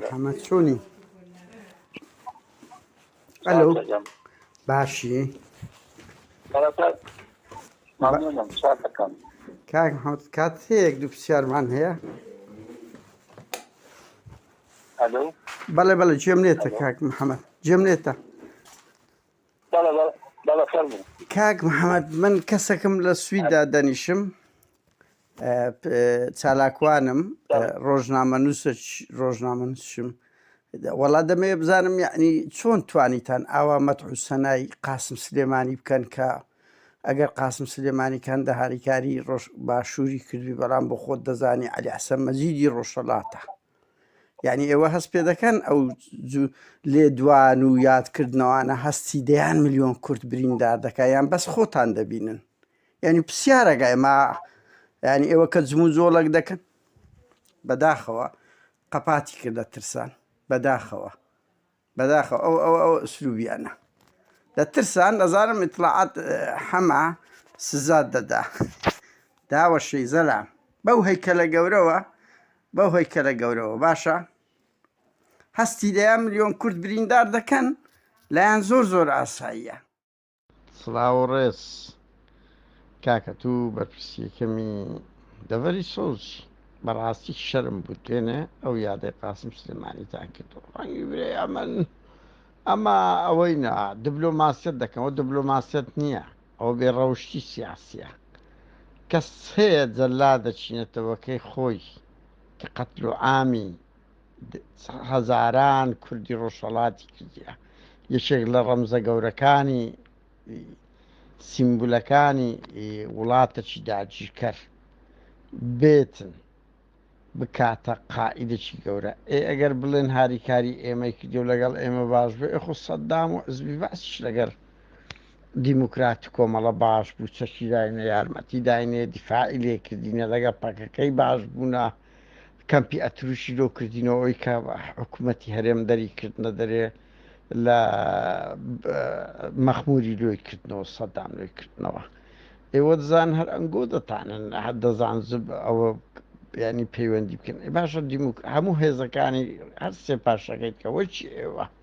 محمد چۆنی ئەلو باشی کاک حوت کات هەیەک دوو پرسیارمان هەیە بەڵێ بەڵێ جێم لێتە کاک محەممەد جێم لێتە کاک محەممەد من کەسەکەم لە سویدا دەنیشم چالاکوانم ڕۆژنامەنوس ڕۆژنامەنوسشم وەڵا دەمەیە بزانم یعنی چۆن توانیتان ئاوا مەتح و سەنای قاسم سلێمانی بکەن کە ئەگەر قاسم سلێمانی کەندە هاریکاری ڕۆژ باشووری کردوی بەڵام بۆ خۆت دەزانی علی حسە مەزیدی ڕۆژەڵاتە یعنی ئێوە هەست پێ دەکەن ئەو لێ دوان و یادکردنەوانە هەستی دەیان میلیۆن کورت بریندار دەکە یان بەس خۆتان دەبینن یانی پسیارەگە ئێمە یانی ئێوە کە جمو جۆڵەک دەکەن بەداخەوە قەپاتی کردە ترسان بەداخەوە بەداخەوە ئەو ئەو ئەو ئسلوبیانە لە ترسان ئەزانم ئیتلاعات حەما سزات دەدا داوە شەیزەلام بەو هەیکەلە گەورەوە بەو هەیکەلە گەورەوە باشە هەستی دەیان ملیۆن کورد بریندار دەکەن لایەن زۆر زۆر ئاساییە سڵاوو ڕێز کاکە تو بەرپرسیەکەمی دەڤەری سۆزی بەڕاستی شەرم بوو دوێنێ ئەو یادەی قاسم سلێمانیتان کردو ڕەنگی برێ ئەمن ئەمە ئەوەی نا دبلۆماسیەت دەکەمەوە دبلۆماسیەت نییە ئەو بێ ڕەوشتی سیاسیە کەس هەیە جەلا دەچینێتەوەکەی خۆی کە قەتلو عامی هەزاران کوردی ڕۆژهەڵاتی کردە یەکێک لە ڕەمزە گەورەکانی سیمبولەکانی وڵاتەکی داگیرکەر بێتن بکاتە قائیدێکی گەورە ئێ ئەگەر بڵێن هاریکاری ئێمەی کردی و لەگەڵ ئێمە باش بێ ئەخۆ سەددام و عزبی باسیش لەگەر دیموکراتی کۆمەڵە باش بوو چەکی داینە یارمەتی داینێ دیفاعی لێکردینە لەگە پەکەکەی باش بوونە کەمپی ئەتروشی لۆ کردینەوە ئەوی کە حکوومەتی هەرێم دەری کردنە دەرێ لە مەخموری لۆی کردنەوە سەدان لۆی کردنەوە ئێوە دەزان هەر ئەنگۆ دەتانن هەر دەزان زب ئەوە ینی پەیوەندی بکەن باشە دیموک هەموو هێزەکانی هەر سێ پاشەکەیت کە وەچی ئێوە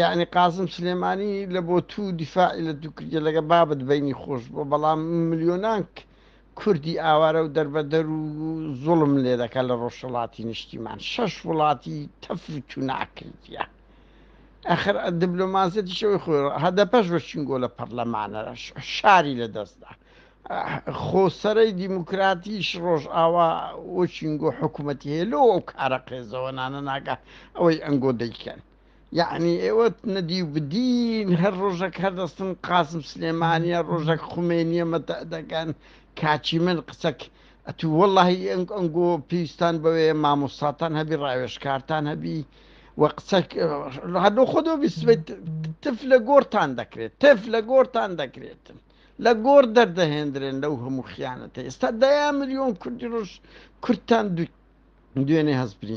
یەعنی قاسم سلێمانی لە بۆ تو دیفاعی لە دوو کردە لەگە بابت بینی خۆش بۆ بەڵام ملیۆنان کوردی ئاوارە و دەربەدەر و زوڵم لێ دەکە لە ڕۆژهڵاتی نیشتیمان شەش وڵاتی تەف تو ناکردە ئەخر دبلۆماسیەتیشەوەی خۆ هەدەپەش بە چنگۆ لە پەرلەمانەرەش شاری لە دەستدا خۆ سەرەی دیموکراتیش ڕۆژئاوا وچینگۆ حکوومەتی هەیە لۆ ئەو کارە قێزەوەنانە ناگا ئەوەی ئەنگۆ دەیکەن یعنی ئێوە نەدی و بدین هەر ڕۆژەک هەردەستن قاسم سلێمانە ڕۆژەک خومێنیە مەتە دەگەن کاچی من قسەک ئەتو وەڵی ئەنگ ئەنگۆ پێویستان بەوێ مامۆستاتان هەبی ڕاوێشکارتان هەبی و قسە هەردوو خۆدۆ بیسبێت تف لە گۆرتان دەکرێت تف لە گۆرتان دەکرێتن لە گۆڕ دەردەهێندرێن لەو هەموو خیانەتە ئێستا دەیان ملیۆن کوردی ڕۆژ کوردتان دوێنێ هەست